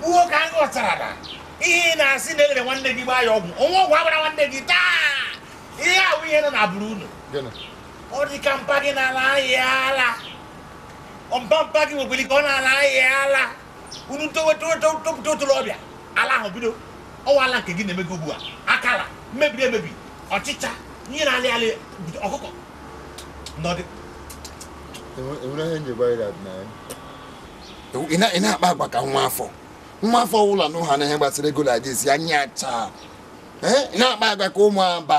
gbuo ka a ghọtara na ihe ị na-asị na elere nwanne gị gbaa ya ọgwụ o nwe ọgwụ a gbara nwanne gị taa ihe ahụ ihe nọ na bụrụ unu ọ dị ka mpa gị na-ala ahịa ala ọmpa mpa gị nwekwere ka ọ na-ala ahịa ala unu topụta otoro ọbịa ala ahụ bido ọwa ala nke gị na-eme gị ugbu a akala mebiri emebi ọchịcha ihe na-alị alị ọkụkọ nọdụ ị na-akpa agwa ka nwa afọ nwa afọ ọbụla na ụha na ihe gbasara ego na-adịzi anya chaa ị na-akpa agwa ka ụmụ aba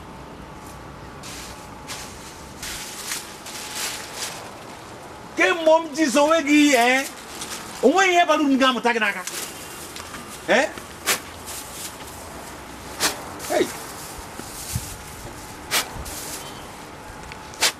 kemgbe m ji sowe gị eh? onweghị ihe bara uru m ga-amụta gị n'aka eh?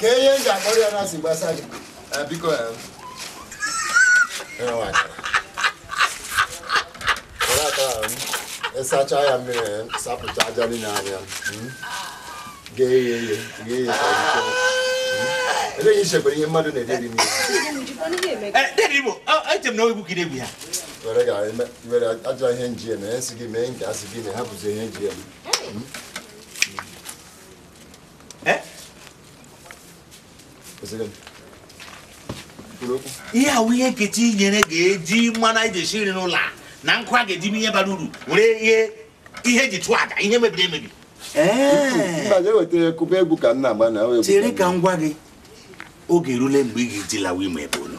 ka ihe m ga-akpọrọ ya na si gbasa gị eh, biko eh. ịsacha ya mmiri eh, sapụcha aja niile anya hmm? ghee ya eghe ghee ya eleghị ichekwara ihe mmadụ na-eri eri n'ihe were ga were ajọ ihe nji eme esi gị mee nke asị gị na ha bụzi ihe nji eme ihe ahụ ihe nkechi nyere ga-eji mmanụ anyị ji esi nri n'ụlọ a na nkụ a ga-eji eme ihe bara uru were ghee ihe e ji chụọ aja ihe mebiri emebi chere ka m gwa gị oge erule mgbe ị ga-eji lawa ime be unu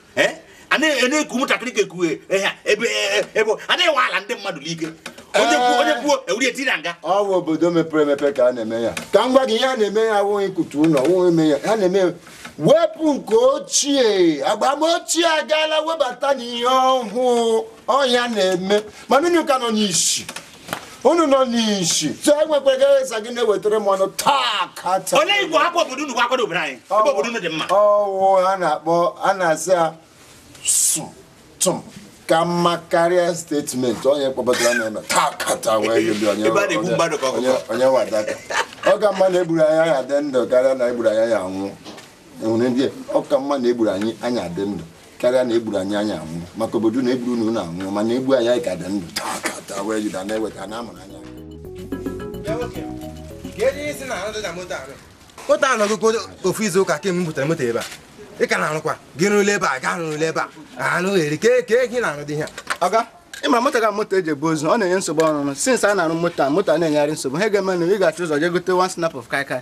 eh? a na-eku ụmụntakịrị ka ekwughị eh, ebe ebe a na-ewe ala ndị mmadụ n'ike onye kwuo onye kwuo ewuri eti na nga ọ bụ obodo mepere emepe ka a na-eme ya ka m gwa gị ihe a na-eme ya awụghị ikutu ụlọ wụghị eme ya a na-eme wepụ nke ochie agba ochie agaala webatana ihe ọhụụ ọ ya na-eme mana unu ka nọ n'isi unu nọ n'isi so enwekwara eze gị na-ewetara m ọnụ taa ka taa olee igbo hapụ obodo unu gwakwado obodo anyị ebe obodo unu dị mma ọwụ a na-akpọ a na-asị ya sụ tụm ka mma karịa statement onye kpọbatara na-eme taa ka taa wee yeli onye onye wadaka ọ ka mma na egburu anyị anya dị ndụ karịa na egburu anyị anya anwụ enwere ndị ọ ka mma na egburu anyị anya dị ndụ karịa na egburu anyị anyị anwụ maka obodo na egburu na ụlọ anwụ mana egbu anyị anyị ka dị ndụ taa ka taa wee jide na-eweta na amụrụ anya moto a nọgụgo ofu izu ụka kemgbe m butere moto ebe a ị ka na-arụkwa gị rụla ebe a gaa rụla ebe a anụ eri ka eke gị na-arụ dị ihe oga ịma moto ga moto e ji ebu ozu ọ na-enye nsogbu ọrụ since a na-arụ moto a moto a na-enyegharị nsogbu ha ga-eme na ị ga-achọ ụzọ jee gote one snap of kaikai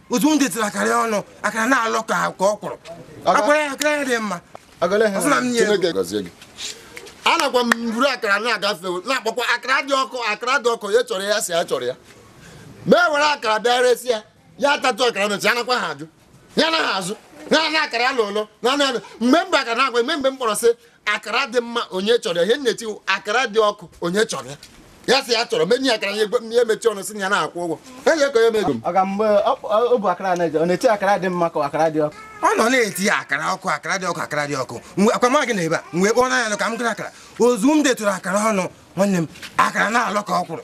otu m detụrụ akara ọnụ akara na-alọ ka ka ọkwụrụ akara ya akara ya dị mma anakwa m buru akara na-agafe na-akpọkwa akara dị ọkụ akara dị ọkụ onye chọrọ ya sị ya chọrọ ya m ewere akara bịa resi ya ya atatụ akara mechi anakwa ha ajụ ya anaghị azụ na na akara ya lụlụ na anụ mgbe m bu akara na-aga mgbe mgbe m kpọrọ sị akara dị mma onye chọrọ ya ihe m na-eti wụ akara dị ọkụ onye chọrọ ya ya sị ya chọrọ m enye akara ya egwe ya emechi ọnụ sị na ya na-akwụ ụgwọ enye ego ya emego m ọ ga mgbe o o bu akara na-eje ọ na-eti akara dị mma ka akara dị ọkụ ọ nọ na-eti ya akara ọkụ akara dị ọkụ akara dị ọkụ mgbe akwama gị na ebe a mgbe kpọọ n'anya nụ ka m gara akara ozu m detụrụ akara ọnụ nwanne m akara na-alọ ka ọkwụrụ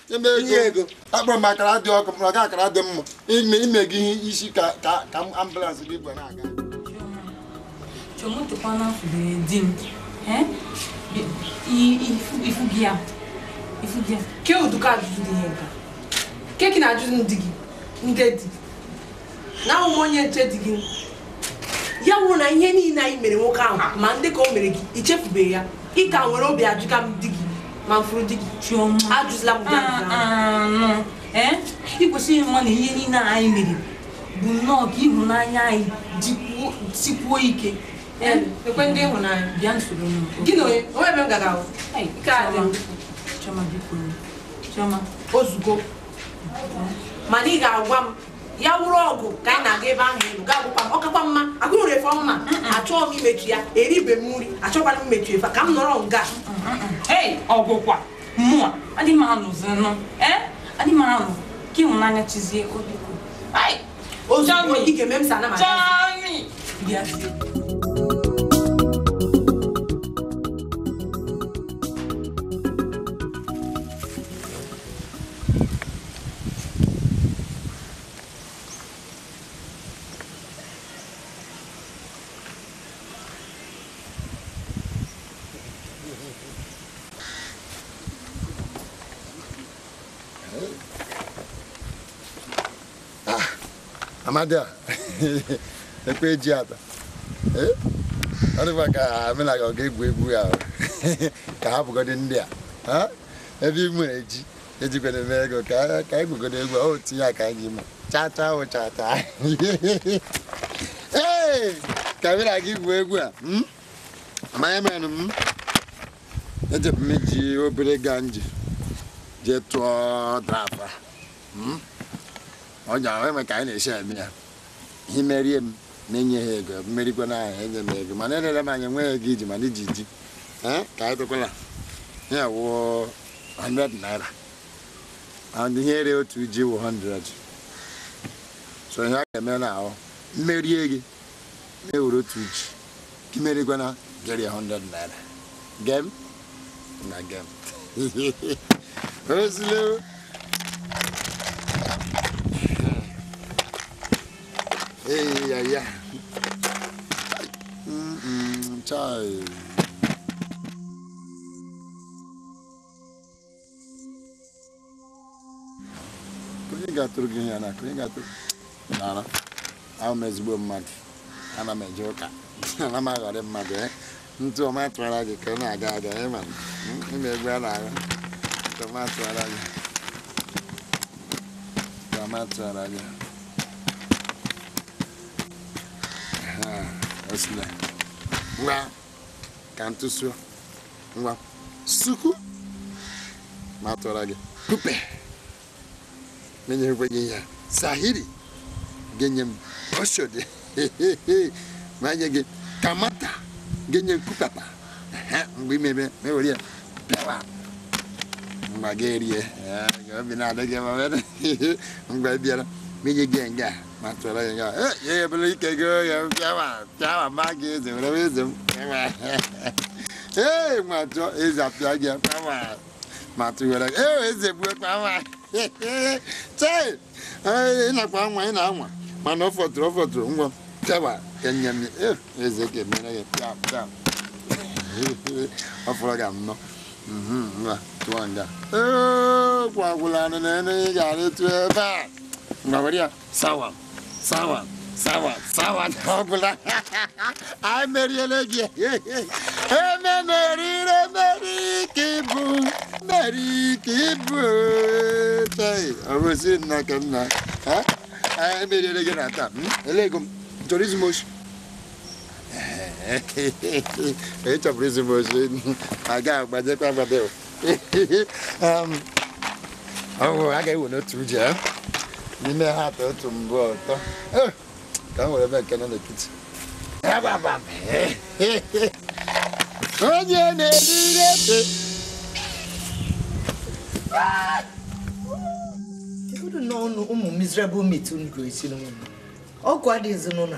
nye ego akpọrọ m akara dị ọkụ m kpọrọ gị akara dị mma ime ime gị ihe isi ka ka ka ambulance gị gwa na-aga kedụ ka ajụjụ dị ihe nke a ke gị na-ajụjụ ndị gị ndị di na awụ m onye nche di gị ya wụ na ihe niile anyị mere nwoke ahụ ma ndị ka o mere gị ichefubeghị ya ị ka nwere obi ajụga m di gị ma m fụrụ di gị Chioma ajụzila m ụdị ajụjụ ahụ. anụ ee ị kwesịrị ịma na ihe niile a anyị mere bụ nnọọ ka ịhụnanya anyị jikwuo sikwuo ike Ee, ekwe ndị ịhụnanya bịa nsoro m gị na onye onwe ebe m ga-aga ahụ Ei, Nke a dị m. Chioma biko Chioma ozugbo mana ị ga-agwa m ya wụrụ ọgụ ka anyị na-aga ebe ahụ elu gaa gwụkwa m ọ kakwa mma agụrụ efe ọma achọghị m imechi ya eribe m nri achọkwara m imechi efe ka m nọrọ nga ee ọ gwụkwa mmụọ adị m anụzinụ ee adị m anụ ka ịhụnanya chizie o biko Ai, ozu Chọmi. ị ga-eme m sa na ma Chọmi! bịazie Amadi a ekwe ji ata ọ dịkwa ka amenaga ọ ga-egwu egwu ya ka ha bụgodị ndị a ebe ị nwere ji ejikwana eme ego ka anyị gwugodo egwu o tinye aka anyị ime chaa chaa o chaa chaa ee ka bịa na gị gwuo egwu a hmm? manya menụ m hmm? ejebu m iji obere ganji jee tụọ draft hmm? ọ ji ahụ eme ka anyị na-esi eme ya i merie m na-enye ha ego m merikwa na ahụ enye m ego mana elere m anya nweghị ego i ji mana i ji ji ka anyị tụkwala ya wụọ 100 naira and ihe ere otu ji wụ 100 so ihe a ga-eme na ahụ m merie gị na-ewere otu ji gị merikwana gị were 100 naira game na game ozilo Hey, yeah, yeah. Mm-mm, child. onye ga-atụrụ gị ya n'aka onye ga-atụrụ nara awụ m ezigbo mmadụ ana m eje ụka ana m aghọri mmadụ eh? ntụ ọma tụwara gị ka ọ na-aga aga ị ma eh, ị ma egwu a na-agụ ntụ ọma tụwara gị ntụ ọma tụwara gị osile ngwa ka m tụsuo ngwa suku m atụra gị kupe m enyekwe gị ihe sahiri gị enye m oshodi m enye gị kamata gị enye nkukapa mgbe i mebe m ewere ya bịawa mgbe ga-erie obi na-adị gị mgbe bịara m enye gị nga M atụla ya ya. Eh, ya ebele ike gị oye bịawa bịawa ma gị eze were wee eze m. Ee, m atụ eze apịa gị kpama. M atụ were gị. Ee, eze gbuo kpama. Chee! Ee, ị nakwa anwa ị na-anwa. Mana ọ fọtụrụ ọ fọtụrụ ngwa bịawa ka nye m. Ee, eze ka e mere gị pịa pịa. Ọ fọrọ gị anọ. Mhm, ngwa, tụọ nga. Ee, gwagwụla anụ na enu ị ga-arịtụ ebe a. ngwa were ya sawa sawa sawa sawa na ọ gwụla anyị meriela gị eme merire meri ka ị bụ meri ka ị bụ tai ọ bụ si nna ka nna ha anyị meriela gị na taa elego m chọrọ izu m oshi ị chọburu izu m oshi a ga-agbajekwa agbade ọhụrụ a ga-ewe n'otu uji eh? n'ime ha atọ otu mbụ ọtọ eh, ka m were ebe nke nọ n'etiti onye na-eri ebe kedu na ọnụ ụmụ miserable meat unu ga-esi n'ụlọ ọgwụ adịghịzi n'ụlọ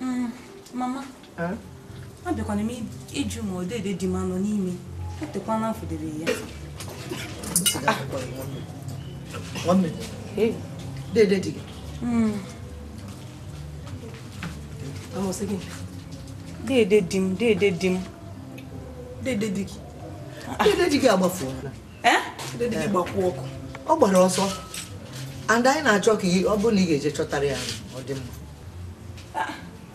Mm, mama abịakwana m ịjụ ma ọ dede di m anọ n'ime etekwana m fụdere ya dede di gị mm. dede di m dede di m dede di gị dede di gị agbafuola eh? ọ gbara ọsọ and anyị na-achọ ka ọ bụrụ na ị ga-eje chọtara ya ọ dị mma ah,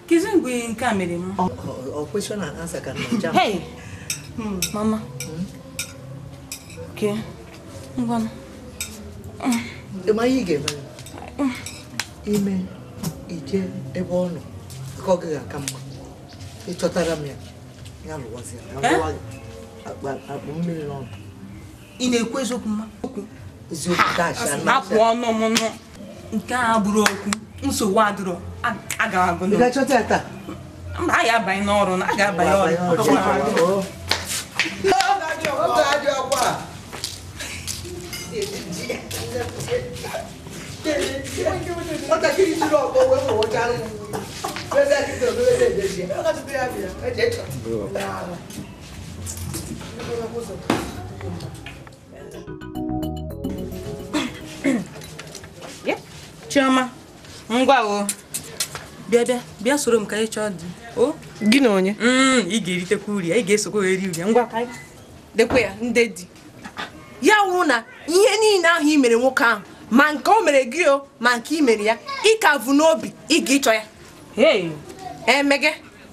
kezi mgbe nke a mere m ọ kwesịrị na ansa ka na hmm. mama hmm? okay ngwa ị ma ihe ị ga-eme hmm. ime ije ebe ọ nọ ka ọ gaghị aka mma ị chọtara m ya ya lụwazi ya eh? akpụ mmiri n'ọnụ ị na-ekwu eziokwu mma okwu eziokwu akpụ ọnụ m nụ nke a bụrụ okwu nsogbu adịrọ aga agụ ị ga-achọta ya taa mba a ga-abanye n'ọrụ a ga-abanye ọrụ nwatakịrị jiri ọkpọ wee mụwụcha arụmụ chioma ngwa o bịa bịa bịa soro m ka anyị chọọ di o gị na onye mm, ị ga-eritekwa uru ya ị ga-esokwa eri uru ya ngwa ka anyị dekwe ya ndị di ya wụrụ na ihe niile ahụ i mere nwoke ahụ ma nke o mere gị o ma nke i mere ya ị ka vu n'obi ị ga ịchọ ya eme gị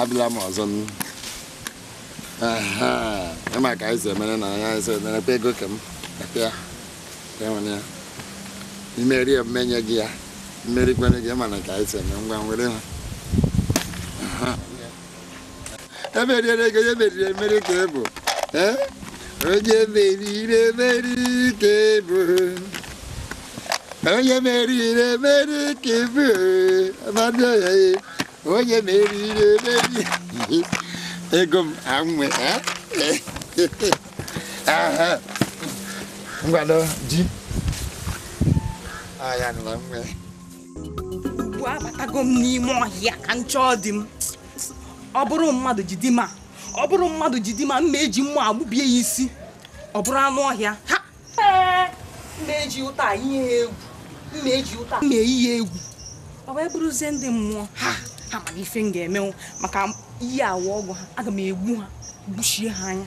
abịala m ọzọ ị ma ka anyị si emere na anya anyị si emere kwa ego ka m ya enwere ya i merie m enye gị ya m merikwanụ gị mana ka anyị si eme ngwa were ha emeriere gị onye meriri emeri ka ịbụ eh? onye meriri emeri ka ịbụ onye meriri emeri ka ịbụ amadị ọya ya onye meriri emeri ego m anwe eh? ngwado ji aya nụla nwe ugbu a abatago m n'ime ọhịa ka m chọọ di m ọ bụrụ mmadụ ji di m a ọ bụrụ mmadụ ji di m a m ga-eji mma gbubie ya isi ọ bụrụ anụ ọhịa ha ee m na-eji ụta a yie ya egwu m na-eji ụta a m na-eyi ya egwu ọ wee bụrụzie ndị mmụọ ha ha mara ife m ga-emenwu maka iyi awa ọgwụ ha aga m egbu ha gbuchie ha anya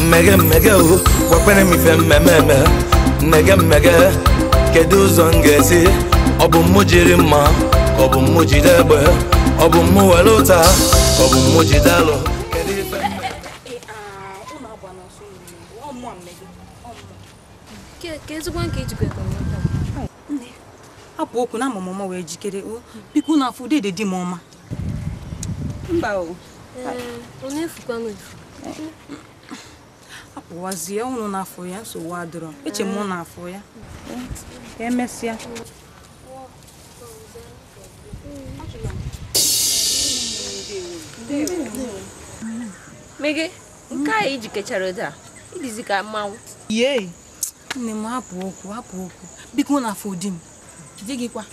mege mege o gwakwene m ife m ma-eme mege mege kedu ụzọ m ga-esi ọ bụ mụ jiri mma ka ọ bụ mụ jide egbe ọ bụ mụ were ụta ka ọ bụ mụ jide alo kedu ife ka ezigbo nke ijikọ ego hapụ okwu na ama m ụma wee jikere o biko ụnụ afụ dede di m ọma mba o ọ na-efukwanụ efu apụwazie ụnụ afụ ya nsogbu adịrọ eche m ụnụ afụ ya ka emesịa mege nke a i jikechara ụdị a ị dịzi ka mmanwụ yee nne m hapụ okwu hapụ okwu biko ụnụ afụ di m di gị kwa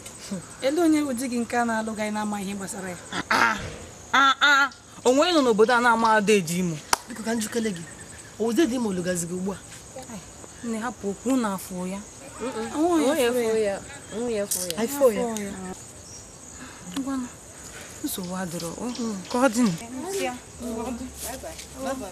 ele onye bụ di gị nke a na-alụ gị na-ama ihe gbasara ya ah, ah, ah, o nwere onye nọ n'obodo a na-ama dede imo biko ka m jụkele gị ọ dede imo lụgazi gị ugbu a nne hapụ okwu ụnụ afụ ya nsogbu adịrọ ka ọ dị Bye-bye.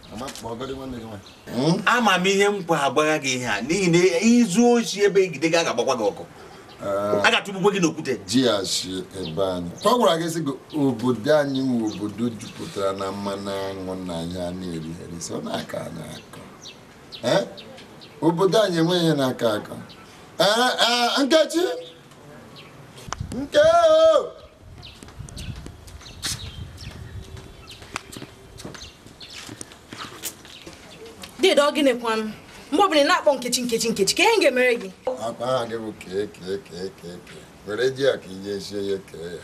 Hmm? ama m ihe m kwọ agwagha gị ihe a n'ihi na i zuo oshi ebe e jide gị a ga-agbakwa gị ọkụ eh. a ga-atụgbukwe gị n'okwute jighachi ebe anyị ọ gwara gị sị gị obodo anyị wụ obodo jupụtara na mmanụ aṅụ na ihe a na-eri eri so na-akọ anyị akọ eh? obodo anyị enweghị ihe na-akọ akọ eh, nkechi Nke Dede ọ gịnị kwanụ? Mgbe ọbụla ị na-akpọ nkechi nkechi nkechi kee ihe m ga-emere gị. Akpa ha gị bụ kee kee kee kee kee. Were ji a ka ị ga-esi onye kee ya.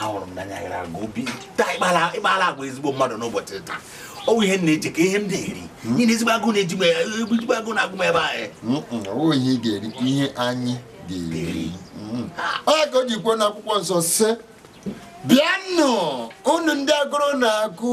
ahụrụ m n'anya gara aga obi taa ị kpala agwa ezigbo mmadụ n'ụbọchị taa ọ bụ ihe na-eche ka ihe m na-eri hmm? ihe na ezigbo agụụ na-eji m ezigbo agụụ na-agụ m ebe anyị hmm, hmm, ọ bụ ihe ị ga-eri ihe anyị ga-eri ọ ka o ji kwuo n'akwụkwọ nsọ sị bịanụ unu ndị agụrụ na-agụ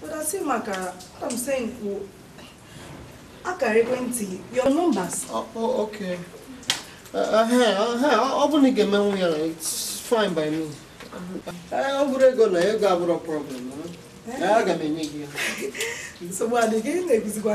But asị m akara. What I'm saying, akara ekwentị your numbers. Oh, oh, okay. Uh, uh, hey, uh, hey, ọ bụrụ na ị ga-emenwu ya, it's fine by me. Eh, ọ bụrụ ego na ego abụrọ problem. Eh? Eh, aga m enye gị ya. Nsogbu adịghị, ị na-eguzikwa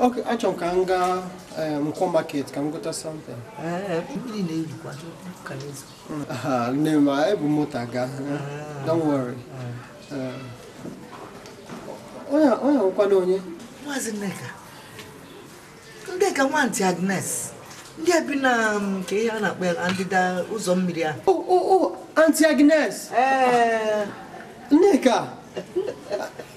Okay, achọrọ m ka m gaa eh, nkwọ market ka m gota something. Eh, ah, nne m ah, ebu moto aga eh, ah. don't worry onye nwekwana onye maazị nneka nneka nwa anti agnes ndị bi na mm, kee ihe a na-akpọ ya ndịda ụzọ mmiri ahụ o oh, oh, oh, anti agnes nneka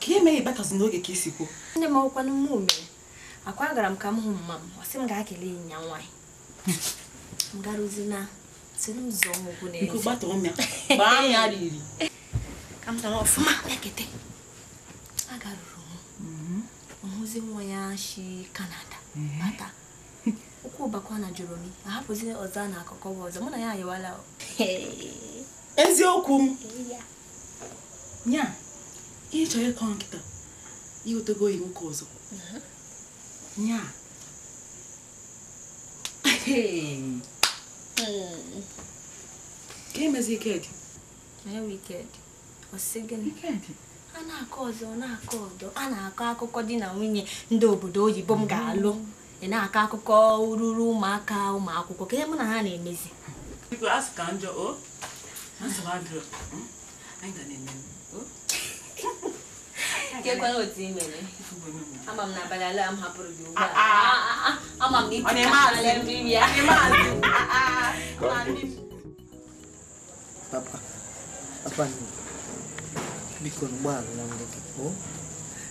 kee ihe mere ị batazi n'oge ka i si kwuo nne m ọkwanụ m mere akwa agara m ka m hụ mama m ọ sị m gaa kele enyi ya nwaanyị m garuzi na si n'ụzọ ọgwụ n'ezi gbaa ya riri ka m tara ọfụma ekete agaruru m hụzi nwa ya shi canada bata mm-hmm. Okwu ụbakwa na Joromi, ahapụzi ọzọ a na-akọkọ bụ ọzọ, mụ na ya ayịwala o. Eziokwu m. Nya, ihe ị chọrọ ịkọ kịta, i nwetego oyi nwoke ọzọ. Nya. Ka emezi ike dị. Onye wicked? a na-akọ ọdọ na-akọ ọdọ a na-akọ akụkọ di na nwunye ndị obodo oyibo m ga-alụ ị na-akọ akụkọ ruru ụmụaka ụmụ akwụkwọ kee ihe mụ na ha na-emezi keekwanụ otu i mere ama m na abalị ala m hapụrụ gị ugbu a ama m na ị tụrụ ala mmiri ya Papa, papa nne, biko na ụgbọala nwanne gị pụọ.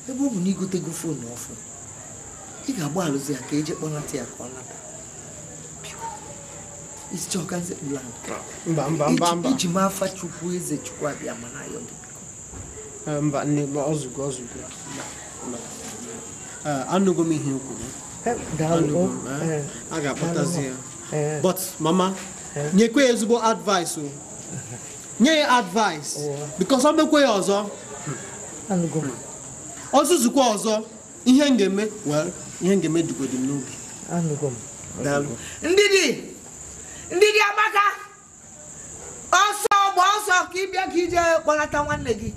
Ebe ọ bụ na i gotego foonu ọfụ, ị ga-agbalụzi ya ka e je kpọlata ya ka ọ lata. Biko, ị sị chọọ ka m sekpuru ala. mba mba mba mba Eji m afa Chukwu eze Chukwu Abiama na-ayọ gị biko. Eh, mba nne ma o zugo o zugo Eh, anụgo m ihe i kwuru Eh, daalụ. Anụgo m, eh. Eh, A ga-akpọtazi ya eh. but mama eh. nyekwe ya ezigbo advice o nye ya advice oh. because ọ mekwe ya ọzọ ọ zuzukwa ọzọ ihe m ga-eme well ihe m ga-eme dịgodi m n'obi ndidi ndidi amaka ọsọ gba ọsọ ka ị bịa ka i je kpọlata nwanne gị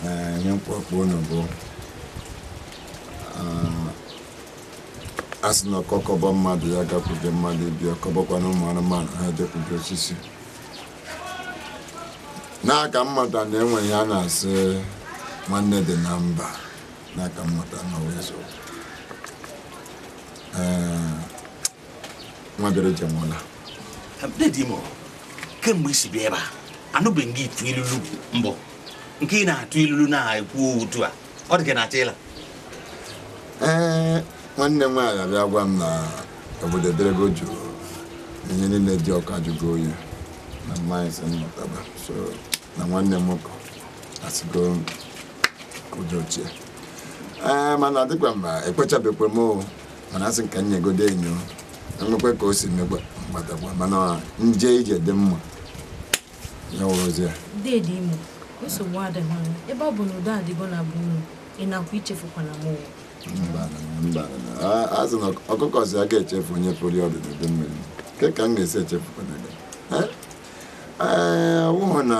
Ee, ihe mkpọkpọ unu bụ ah, a sị na ọkọ kọbọ mmadụ ya gakwuje mmadụ ibe ọ kọbọkwanụ ụmụ anụmanụ ha jekwuje osisi n'aka mmadụ a na-ewere ya a na-asị nwanne dị na mba n'aka mmụta na wee so nwa bịara ije nwe ụla kemgbe i si bịa ebe a anụbeghị m nga ị tụ ilulu mbụ nke ị na-atụ ilulu na-ekwu otu a ọ dị ka ị na-achọ ịla ee nwanne m nwaanyị abịa gwa m na obodo ederego jụụ ihe niile dị ọkụ ajụgo oyi na mmanya si mmụtaba so na nwanne m nwoke asịgo udo chịa ee mana dịkwa mma ekwechabekwe m mana a sị ka m nyogodu enyo e nwekwe ka o si mekwa m gbatakwa mana m je ije dị mma ya wụrụzi ya deede imo nsogbu adịghị anya ebe ọ bụ na udo adịgo na be unu ị nakwa echefukwana mụwa a sị na ọkụkọ sị agaghị echefu onye pụrụ ọdụ n'udu mmiri kee ka m ga-esi echefukwana gị ee wụhụ na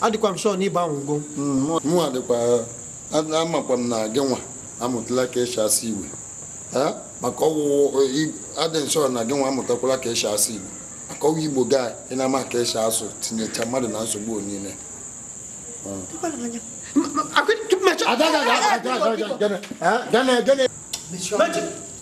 adịkwa m sure na ị gbanwego mụnwa dịkwa amakwa m na gị nwa amụtala ka e si asụ Igbo maka ọ wụ ọ wụ adị m sure na gị nwa amụtakwala ka e si asụ Igbo maka ọ wụ Igbo gị a ị na-ama ka e si asụ tinyecha mmadụ na nsogbu niile Gana, gana, gana.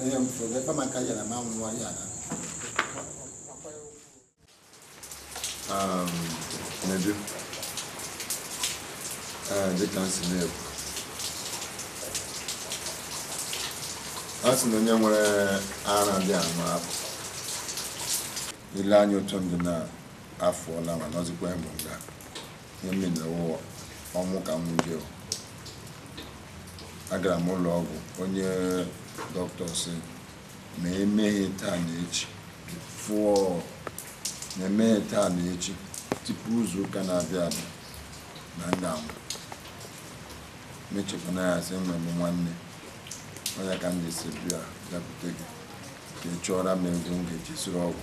Onye m fụrụ ebe maka ya na ma nwụọ ya na. Um, Nedu, uh, dịka m si na-ekwu, a sị na onye nwere ara dị anụ afọ ile anya otu ndụ na afọ ọla ma nọzikwa ịmụ nga ihe m mere wụ ọnwụ ka m jụrụ agara m ụlọ ọgwụ onye doctor sị ma emeghị taa na echi before ma emeghị taa na echi tupu izu ụka na-abịa abịa na m ga-anwụ m chekwana ya sị enwere m nwanne ọ ya ka m ji si bịa bịakwute gị ka ị chọọra m ego m ga-eji zụrụ ọgwụ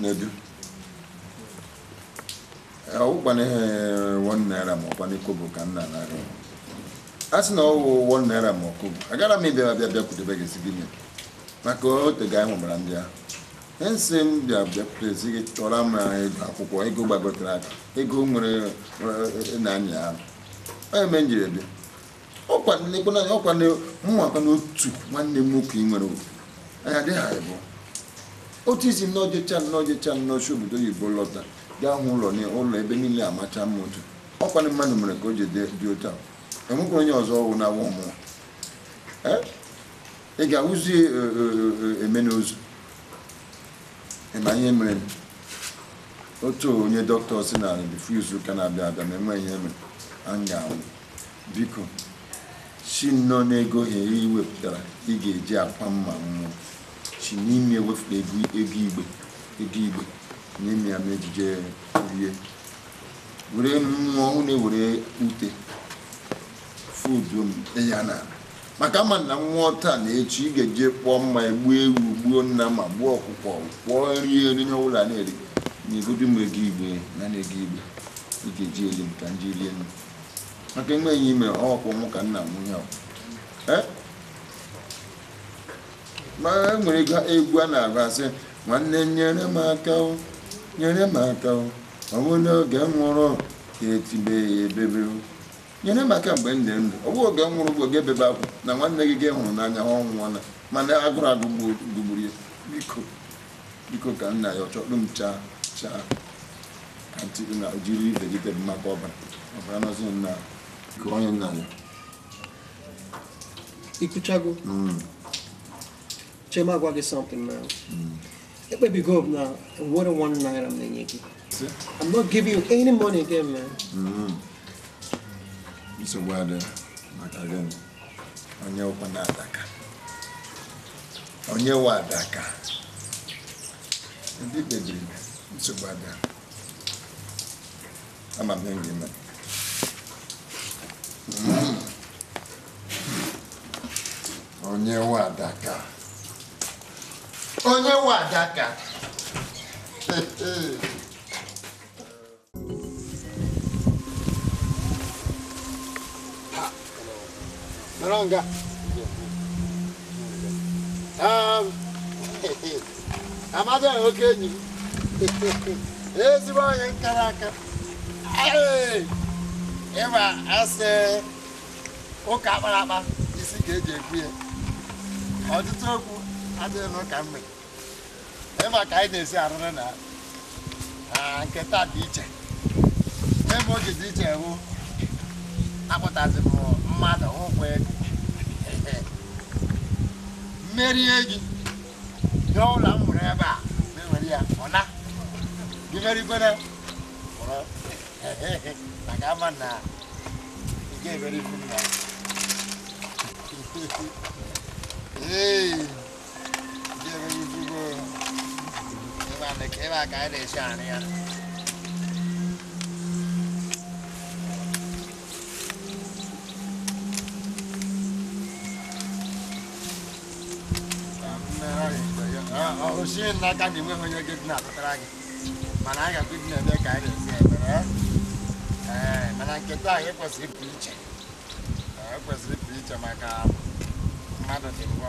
Nedu. Eh, ọwụkwana ihe eh, one naira ma ọkwana kobo ka m na-anara a sị na ọwụ one naira ma ọ kobo agara m ịbịa bịa bịakwutebe gị sị gị nye m maka ote ga anyị nwebara ndị ahụ ihe m sị m bịa bịakwute sị gị chọọrọ m eh, ego akwụkwọ ego gbagotara aka ego nwere na-anya ahụ ọ ya me m jiri bịa ọkwa lekwanụ anya ọkwa na mụnwakwanụ otu nwanne m nwoke ị nwere obi anyị adịghị anyị bụ otu isi nnọọ jecha nnọọ jecha nnọọ si obodo oyibo lọta gaa hụ ụlọ na ụlọ ebe niile amacha mma otu ọkwa na mmadụ mere ka o ji dị dị otu ahụ enwekwara onye ọzọ ọwụ na ọ wụ mmụọ Eh? ị ga-awụzi eh, eh, eh, eme n'ozu ị ma ihe mere m. otu onye dọkịta sị na before izu ụka na-abịa abịa ma enweghị ihe e mere a m ga-anwụ Biko, si nnọọ n'ego ohere i wepụtara ị ga-eji akwa m ma m nwụọ, si n'ime ya wepụta ego ego igbe ego igbe nye m ya m jije rie. Were m nwụọ hụ na e were ute fudo m ya n'ala maka ama m na m nwụọ taa na echi ị ga-eji kpọọ mmanya gbuo ewu gbuo nnama gbuo ọkụkọ kpọọ nri eri ihe ọbụla na-eri nyegodu m ego igbe na na ego igbe ị ga-eji eli m ka m ji rie nri. maka enweghị ime ọkwụ mụ ka nna m ihe ma e nwere egwu a na-agụ a sị nwanne nyere m aka nyere m aka ọ bụghị n'oge m nwụrụ gị etibe ebebe nyere m aka mgbe m dị ndụ ọ bụghị oge m nwụrụ bụ gị ebebe akwa na nwanne gị gị hụrụ n'anya ọ nwụọla mana agụrụ agụgburu ya biko biko ka nna ya ọ chọdụ m chaa chaa I kwuchago hmm. chee m gwa gị something na hmm. ekpebigo m na o nwerọ one naira m na-enye gị I'm not giving you any money again man hmm. nsogbu adịghị maka gị onye ụkwa na-adaka onye nwe adaka Ndị kpebiri nsogbu adịghị. Ama m ihe m ga-eme. Onye nwe adaka. Onye nwe adaka. Naranga. Um, Amadi oke enyi m. Ezigbo onye nkara aka. Ee, Ị ma a sị ụka akpara akpa isi ka e ji ekwe ya. Ọtụtụ okwu adịghị n'ụka mgbede. ebe a ka anyị na-esi arụrụ na na nke taa dị iche ebe o ji dị iche bụ akpọtazi m mmadụ ụkwụ ego m merie gị nye ụlọ m mụrụ ebe a na-ewere ya ọ na gị merikwere mụrụ maka ama na ị ga-emeri ibu m na Hey. o sie n'aka na enweghị onye gị na-atụtara gị mana anyị ga-akpụ dị na-eme ka anyị na-esi ebere ee mana nke taa anyị kwesịrị ịpụ iche kwesịrị ịpụ iche maka mmadụ dị ngwa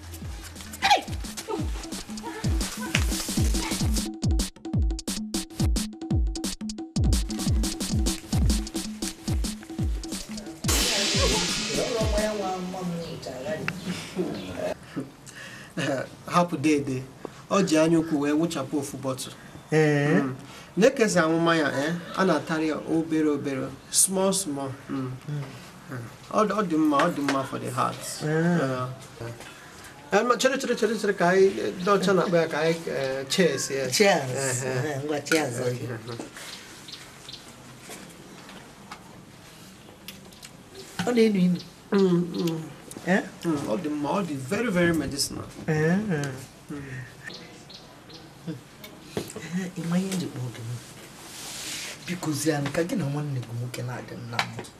hapụ dede o ji anya ukwu wee wụchapụ ofu bottle hmm. nee ka e si awụ mmanya eh? a na-atara ya obere obere small small hmm. Hmm. ọ dị mma ọ dị mma for the heart chere chere chere chere ka anyị ndị ọcha na-akpọ ya ka anyị cheers ya cheers ngwa cheers ọ na-enu inu ọ dị mma ọ dị very very medicinal ị ma ihe m ji kpọọ gị biko zie ka gị na nwanne gị nwoke na-adị nna m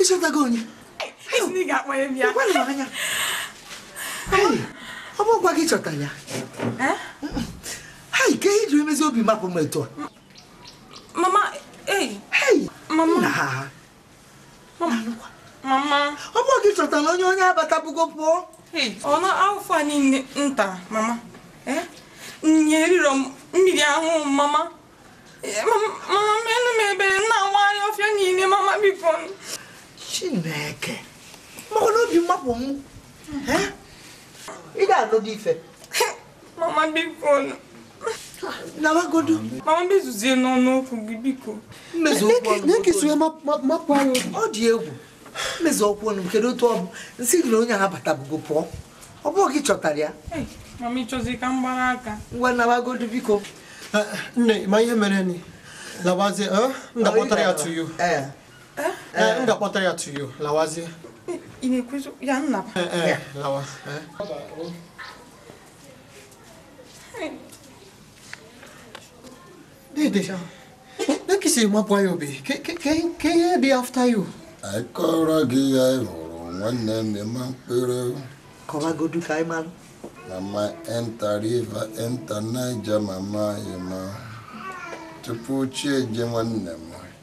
ị chọtago onye ọ bụ ngwa gị chọta ya hei kee ihe i ji emezi obi amapụ m etu a mama mama mama ọ bụ gị chọtara onye onye abatabugo pụọ ọ na afọ a niile nta mama nye eriro nri ahụ mama mama meenụ m ebere nna nwaanyị ọfịa niile mama biko chineke maka na obi amapụ m ị ga-alụ gị ife mama biko nawagodu mama mezuzie n'ọnụ okwu gị biko m mezuo okwu ọnụ na-ekesi ya mapụ anyị ọ dị egwu m mezuo okwu ọnụ kedu otu ọ bụ m sị gị na onye ahụ abatabugo pụọ ọ bụ gị chọtara ya mama ị chọzi ka m gbara aka ngwa nawagodu biko eh, nne ma ihe mere ni lawazie eh, m ga-akpọtara ya to you eh. m ga-akpọtara ya to you lawazie ị na-ekwuzi ya nna lawa Dedeja, na ka isi mapụ ya obi, ka ihe dị after you. Anyị kọrọ gị ya ị hụrụ nwanne m ịma mkpụrụ. Kọwagodu ka anyị malụ. Mama enter river, enter Niger, mama ịma. Tupu chi ejie nwanne m,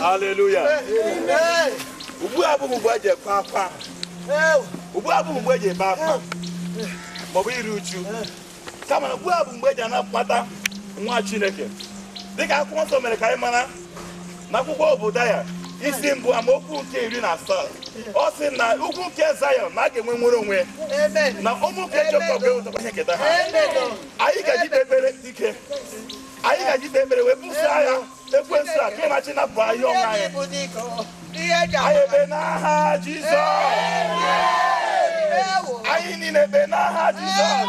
Hallelujah. Ugbu a abụghị mgbe eji akwa akwa. Ugbu a abụghị mgbe eji ebe akwa. Maọbụ iri uju. Kama ugbu a bụ mgbe eji anabata nwa Chineke. Dịka akwụkwọ nsọ mere ka anyị mara n'akwụkwọ Obadaya isi mbụ amaokwu nke iri na asaa ọ sị na ugwu nke Zayọn na a ga-enwe nnwere onwe na ụmụ nke Jekọb ga-enwetakwa ihe nketa ha anyị ga-eji kpe ekpere ike anyị ga-eji kpe ekpere wee buso agha ekwensu a ka ịmachi napụ ahịa ọnwa anyị anyị ebe n'aha Jizọs anyị niile ebe n'aha Jizọs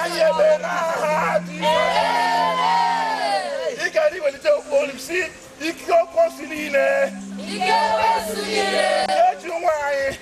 anyị ewere aha dị ike anyị iwelite okwu olu m si ike okwu si niile Ike kwesịrị ire. eji nwa anyị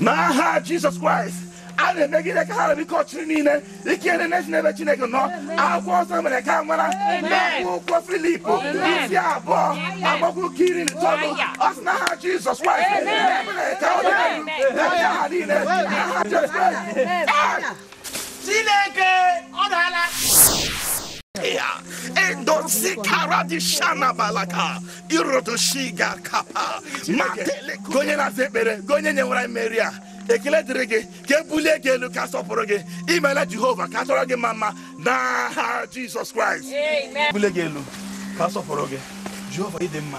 n'aha jizọs kraịst a na-emegide ka ha ra bụ ike ọchịchịrị niile ike niile na-esi n'ebe chineke nọ akwụkwọ nsọ mere ka anyị mara akwụkwọ filip isi abụọ amaokwu nke iri n'itoolu ọ sị n'aha jizọs kraịst mere ka ọ dị n'aha niile n'aha jizọs kraịst Chineke ọ dala ya endozi kara di shana balaka irodo shiga kapa matele onye na-aza ekpere onye nwere mmeri a ekele dịrị gị ka ebulie gị elu ka asọpụrụ gị imela jehova ka atụọrọ gị mma mma n'aha jizọs kraịst bulie gị elu ka asọpụrụ gị jehova ị dị mma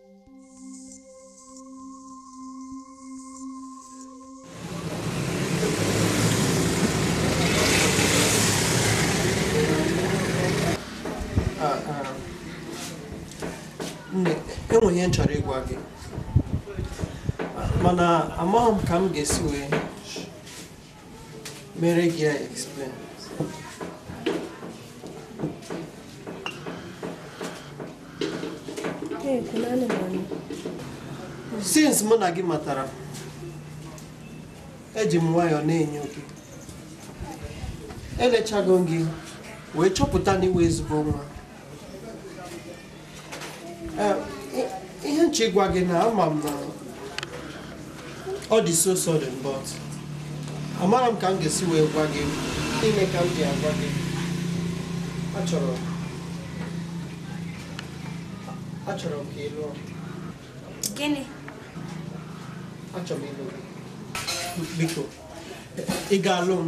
enwere ihe m chọrọ ịgwa gị mana amaghị m ka m ga-esi wee Mere gị ya explain. Since mụ na gị matara, eji m nwayọọ na-enyo gị. Elechago m gị wee chọpụta na ị wụ ezigbo nwa. ihe m chọ ịgwa gị na ama m na ọ dị so sudden but amarọ m ka m ga-esi wee gwa gị ime ka m ji agwa gị achọrọ achọrọ m ka ị lụọ gịnị achọrọ m ịlụ gị biko ị ga-alụ m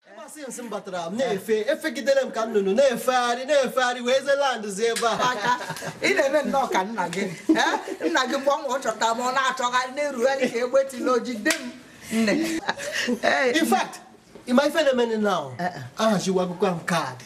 ebe asị nsị m batara m na-efe efegidere m ka nnụnụ na-efegharị na-efegharị wee ze land zi ebe a aka ị na-eme nnọọ ka nna gị Eh, nna gị mgbe ọ nwụrụ chọta ma ọ na-achọgharị na-erugharị ka egbe tila oji de m nne Eh, in fact ịma ife na-emenụ na ahachiwa akwụkwọ ahụ kaadị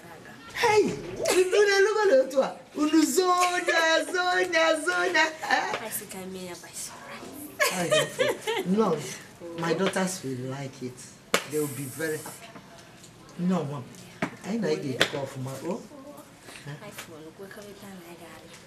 unu elugo na otu a unu zonya zonya zonya no my daughters will like it they will be very happy no mom anyị na anyị ga-ebikọ ọfụma o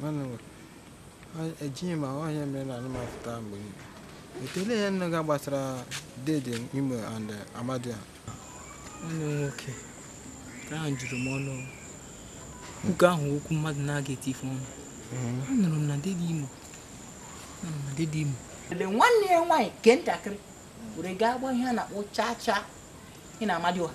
Mana o- ọ- ejighị ma ọhịa mere na anụmanụ pụta mgbe niile. Ekele ihe nne ga gbasara Dede Imo and eh, Amadịọha. nwanne m nwoke ụka ahụ juru m ọnụ nke ahụ okwu mmadụ na-aga eti ife ọnụ anụrụ m na dede imo anụrụ m na dede imo ele nwanne ya nwaanyị nke ntakịrị were gaa gba ihe a na-akpọ chacha ya na Amadịọha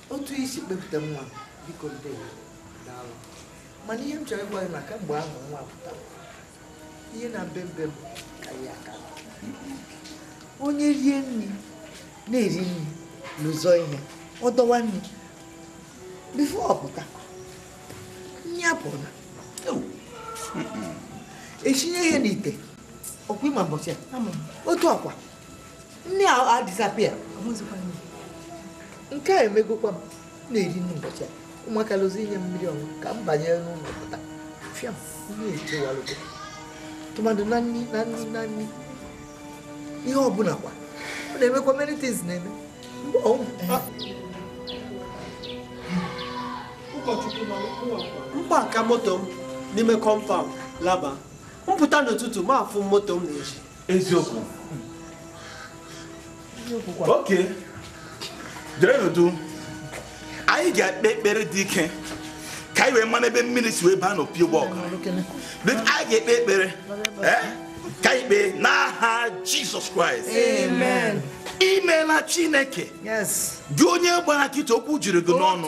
otu i si kpọpụta nwa biko ndewo daalụ mana ihe m chọrọ ịgwa gị na kamgbe ahụ nwa pụtara ihe na-eme be m karịrị aka onye rie nri na-eri nri n'ụzọ ihe ọ dọwa nri before ọ pụta nri apụla esinye ihe n'ite ọkwa ịma mbọchị a otu ọkwa nri a disappear nke a emegokwa m na-eri n'ụbọchị a ụmụaka lụzi inye mmiri ọṅụ ka m banye n'ụlọ pụta fịa na-echewalụgo tụmadụ na nri na nri na nri ihe ọbụla kwa ọ na-emekwa many things na-eme m park moto m n'ime compound laba m pụta n'ụtụtụ m afụ moto m n'ezi eziokwu oke dere n'udu anyị ga-ekpe ekpere dị ike ka anyị wee mara ebe mmiri si wee baa n'opi ụgbọgụrụ anyị ga-ekpe ekpere eh? ka anyị kpee n'aha jizọs kraịst imeela chineke gị onye gbara nkịtị okwu juru gị n'ọnụ